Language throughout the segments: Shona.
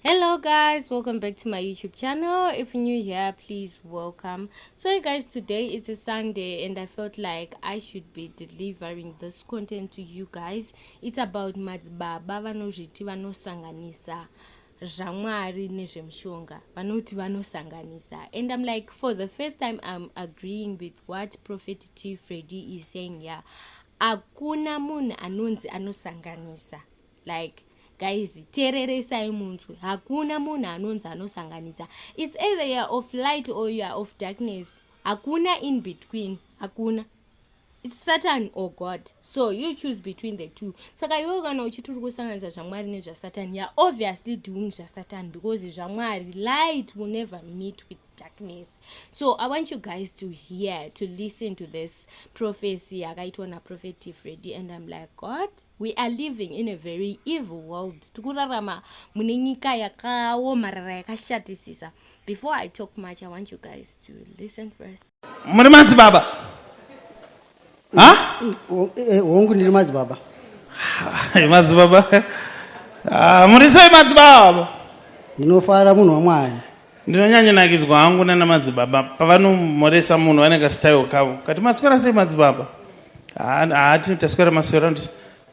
hello guys welcome back to my youtube channel if you're new here please welcome so guys today is a sunday and i felt like i should be delivering this content to you guys it's about madzibaba vanozviti vanosanganisa zvamwari nezvemushonga vanoti vanosanganisa and i'm like for the first time i'm agreeing with what prophet t fredi is saying ya yeah. hakuna munhu anonzi anosanganisa like guys tereresai munzwi hakuna munhu anonzi anosanganisa its either youare of light or youare of darkness hakuna in between hakuna its satan or god so you choose between the two saka iwewo kana uchiti uri kusanganisa zvamwari nezvasatan youare obviously doing zvasatan because zvamwari light will never meet with darkness so i want you guys to hear to listen to this prophecy yakaitwa naprophet tifredi and im like god we are living in a very evil world tikurarama mune nyika yakaomarara yakashatisisa before i talk much i want you guys to listen first muri madzibaba ha eh, hongu ndiri madzibaba madzibaba ah, muri sei madzibaba ndinofara munhu wamwari ndinonyanyanakidzwa hangu nana madzibaba pavanomhoresa munhu vane kastayo kavo kati maswera sei madzibaba haati taswera maswera nditi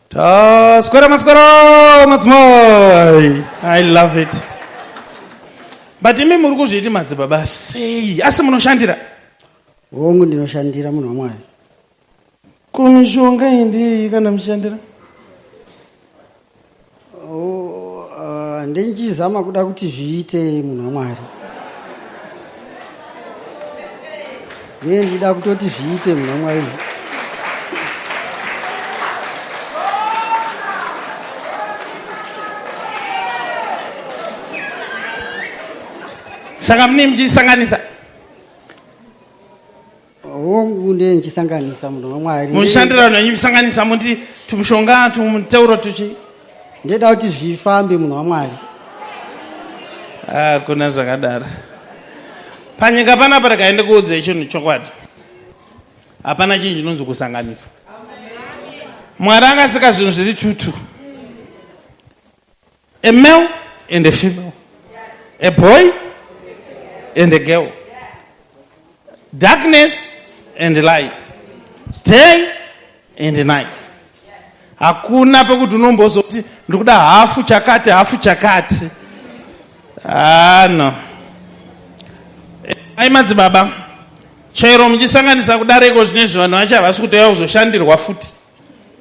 taswera maswera madzimai i love it but imi muri kuzviiti madzibaba sei asi munoshandira Hongu ndinoshandira munhu waMwari. Ko mishonga iyi ndeyei kana mushandira? Oh, uh, ndenchizama kuda kuti zviite munhu waMwari. Ndiye ndida kutoti zviite munhu waMwari. Saka mune mchisanganisa hongu ndiye ndichisanganisa munhu wamwari mushandira vanhu venyu musanganisa muti tumushonga tumuteuro tuchi ndeda kuti zvifambe munhu wamwari hakuna ah, zvakadaro panyika panapa rikaende kuudze chinhu chokwadi hapana chinhu chinonzi kusanganisa mwari akasika zvinhu zviri tutu A male and a female. A boy and a girl. Darkness and light. Day and night. Hakuna pekuti unombozoti ndikuda hafu chakati hafu chakati. Ah no. Ai madzibaba. Chairo muchisanganisa kudareko zvinezvi vanhu vacho havasi kutouya kuzoshandirwa futi.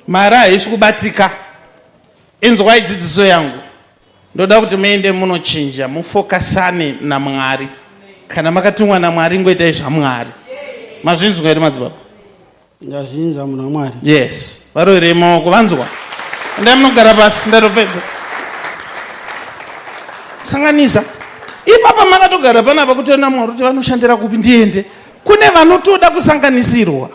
Mari haisi kubatika. Inzwai dzidziso yangu. Ndoda kuti muende munochinja, mufokasane naMwari. Kana makatumwa naMwari, ngoitai zvaMwari. Mazvinzwa here madzibaba? Ndazvinzwa munhu waMwari. Yes. Varoerei maoko, vanzwa. Endai munogara pasi, ndatopedza. Sanganisa. Ipapa makatogara panapa kutoenda Mwari kuti vanoshandira kupi ndiende. Kune vanotoda kusanganisirwa.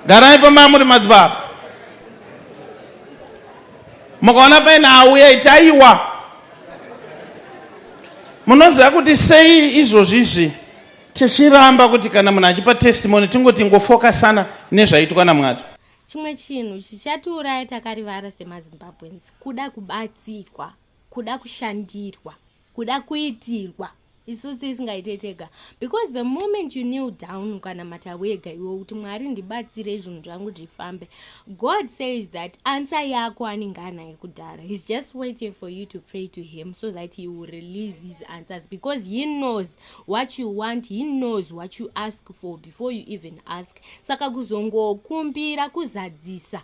garai pamba muri madzibaba mukaona paine auya itaiwa munoziva kuti sei izvozvi izvi tichiramba kuti kana munhu achipa testimony tingoti ngofokasana nezvaitwa namwari chimwe chinhu chichatiuraya takarivara semazimbabweans kuda kubatsirwa kuda kushandirwa kuda kuitirwa isusu tisingaite tega because the moment you kneel down ukanamata wega iwe kuti mwari ndibatsire zvinhu zvangu zvifambe god says that answer yako anenge anaye kudhara he's just waiting for you to pray to him so that he will release his answers because he knows what you want he knows what you ask for before you even ask saka kuzongokumbira kuzadzisa